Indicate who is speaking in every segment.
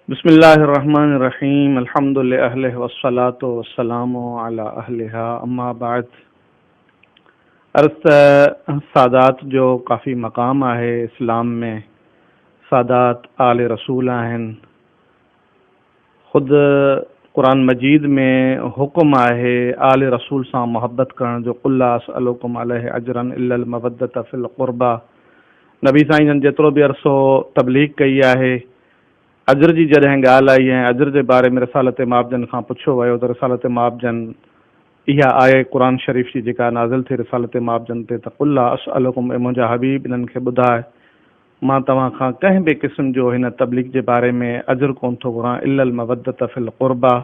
Speaker 1: بسم الله الرحمن الرحيم الحمد لاهله والصلاه والسلام علي اهلها اما بعد عرض ته سادات جو ڪافي مقام آهي اسلام ۾ سادات آل رسول آهن خود قرآن مجيد ۾ حڪم آهي آل رسول سان محبت ڪرڻ جو قل لا اسئلڪم عليه اجرا الا الموده في القربه نبي سائين جن جيترو به عرصو تبليغ ڪئي آهي اجر جي جڏهن ڳالهه آئي ۽ اجر جي باري ۾ رسالت ماب جن کان پڇيو ويو ته رسالت ماب جن اها آيه قرآن شريف جي جيڪا نازل ٿي رسالت ماب جن تي ته قل لا اسئلڪم اي منهنجا حبيب انهن کي ٻڌاء مان توهان کان ڪنهن به قسم جو هن تبليغ جي باري ۾ اجر ڪونه ٿو گهران الا المودة في القربيٰ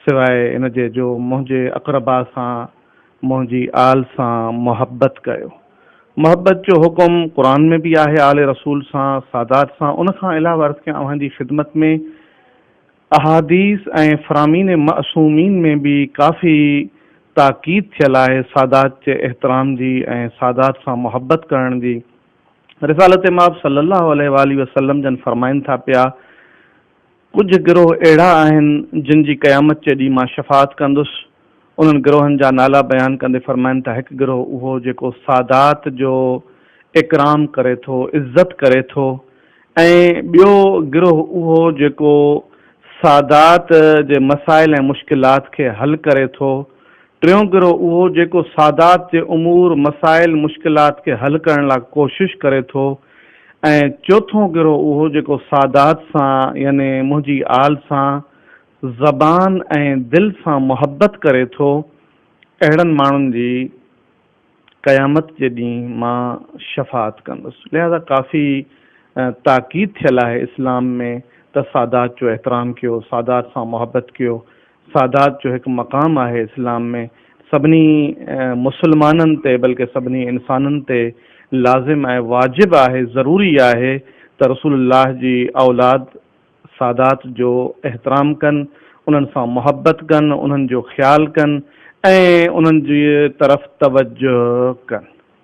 Speaker 1: سواء ان جي جو منهنجي اقرباء سان منهنجي آل سان محبت ڪيو. محبت جو حڪم قرآن ۾ به آهي آل رسول سان، سادات سان، ان کان علاوه عرض ڪيان اوهان جي خدمت ۾، احاديث ۽ فرامين معصومين ۾ به ڪافي تاڪيد ٿيل آهي سادات جي احترام جي ۽ سادات سان محبت ڪرڻ جي. رسالت مآب صلّي اللّٰه عليه واٰله وسلّم جن فرمائن ٿا پيا ته. ڪجهه گروهه اهڙا آهن جن جي قيامت جي ڏينهن مان شفاعت ڪندس. انهن گروهن جا نالا بيان ڪندي فرمائن ٿا هڪ گروهه اهو جيڪو سادات جو اڪرام ڪري ٿو، عزت ڪري ٿو ۽ ٻيو گروهه اهو جيڪو سادات جي مسائل ۽ مشڪلات کي حل ڪري ٿو، ٽيون گروهه اهو جيڪو سادات جي امور، مسائل، مشڪلات کي حل ڪرڻ لاء ڪوشش ڪري ٿو. ۽ چوٿون گروهه اهو جيڪو سادات سان يعني منهنجي آل سان زبان ۽ دل سان محبت ڪري ٿو، اهڙن ماڻهن جي قيامت جي ڏينهن مان شفاعت ڪندس. لهذا ڪافي تاڪيد ٿيل آهي اسلام ۾ ته سادات جو احترام ڪيو، سادات سان محبت ڪيو. سادات جو هڪ مقام آهي اسلام ۾ سڀني مسلمانن تي بلڪه سڀني انسانن تي لازم ۽ واجب آهي ضروري آهي ته رسول الله جي اولاد سادات جو احترام ڪن انهن سان محبت ڪن انهن جو خيال ڪن ۽ انهن جي طرف توجه ڪن.